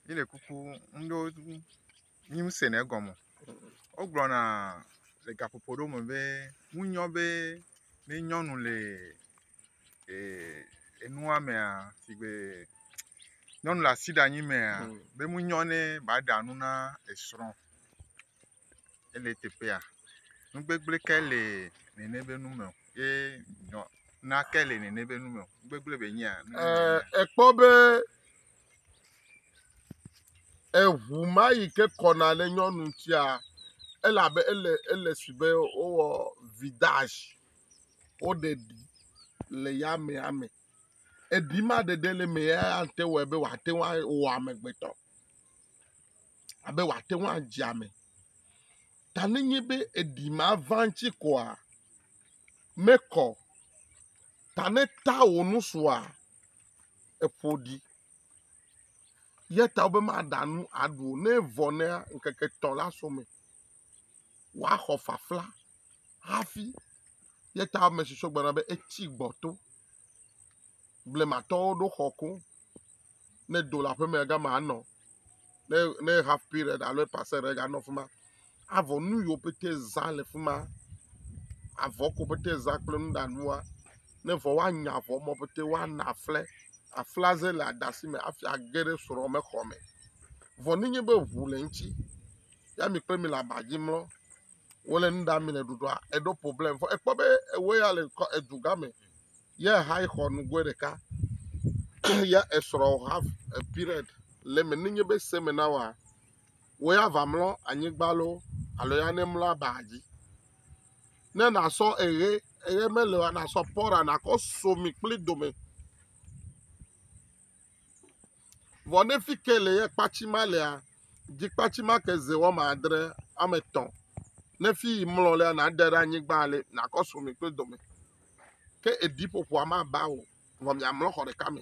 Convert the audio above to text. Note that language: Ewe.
Mi le kuku ŋɖewo ŋu mi ŋu sene egɔme o. Wogblɔna le gaƒoƒo ɖewo me be ŋunyɔ be ne nyɔnu le e enua mea sigbe nyɔnu le asiɖanyi mea be ŋunyɔ ne ba ɖa nu na esrɔ̃. ele teƒea, nu gbegblẽ ke le nene be nu me o ye nɔ nake le nene be nu me o, nu gbegblẽ be nyea. Ee, ekpɔ be eŋu ma yi ke kɔna ɖe nyɔnu ŋutia, ele abe ele ele si be wowɔ vidage, woɖe ɖi le yamea me. Eɖi ma ɖeɖe le emea ya ate wɔe be wòate ŋu awɔ amegbetɔ. abe wòate ŋu adze ame. Ta nenye be eɖi maʋã ŋuti koa, mekɔ o. Ta ne tea wò nu sua, eƒo ɖi. Eya ta wobe maɖa nu aɖu o. Ne evɔ nɛ la, ŋkeke etɔ̃ la su eme. Woaxɔ fafla hafi. Eya ta ame si sɔ gbɔ la be etsi gbɔto. Blematɔwo ɖo xɔ koŋ. ne do le aƒeme ya gama anɔ. Ne ne half period alo eƒe ase ɖe ganɔ fi ma. Avɔ nu yiwo pɛtɛ zã le fi ma. Avɔ ko pɛtɛ zã kple nuɖanua. Ne vɔ woanya avɔ mɔ pɛtɛ woana aƒle. Aƒlea ze le adasi me hafi age ɖe srɔ̃mexɔ me. Vɔ ne nye be ŋu le eŋutsi ya mi kple mi le aba dzi mlɔ wole nu ɖam le ɖuɖɔa eɖo problem vɔ ekpɔ be ewoe ya le kɔ edu gã me ye hã xɔ nugoe ɖeka ya esrɔ ha period le eme ne nye be seme na wa wo ya va mlɔ anyigba lo alo ya ne mlɔ aba dzi ne nasɔ eɣe eɣe mele o nasɔ pɔra nakɔ so mi kple dome. Vɔ ne fi ke le ye kpatsi ma lea, dzi kpatsi ma ke ze wɔme adre, wɔme etɔ̃. Ne fi yi mlɔ lea, nàde ɖe anyigba le nàkɔ so mi kple dɔme. Ke eɖiƒoƒoa maba o, vɔ miamlɔ xɔ ɖeka me.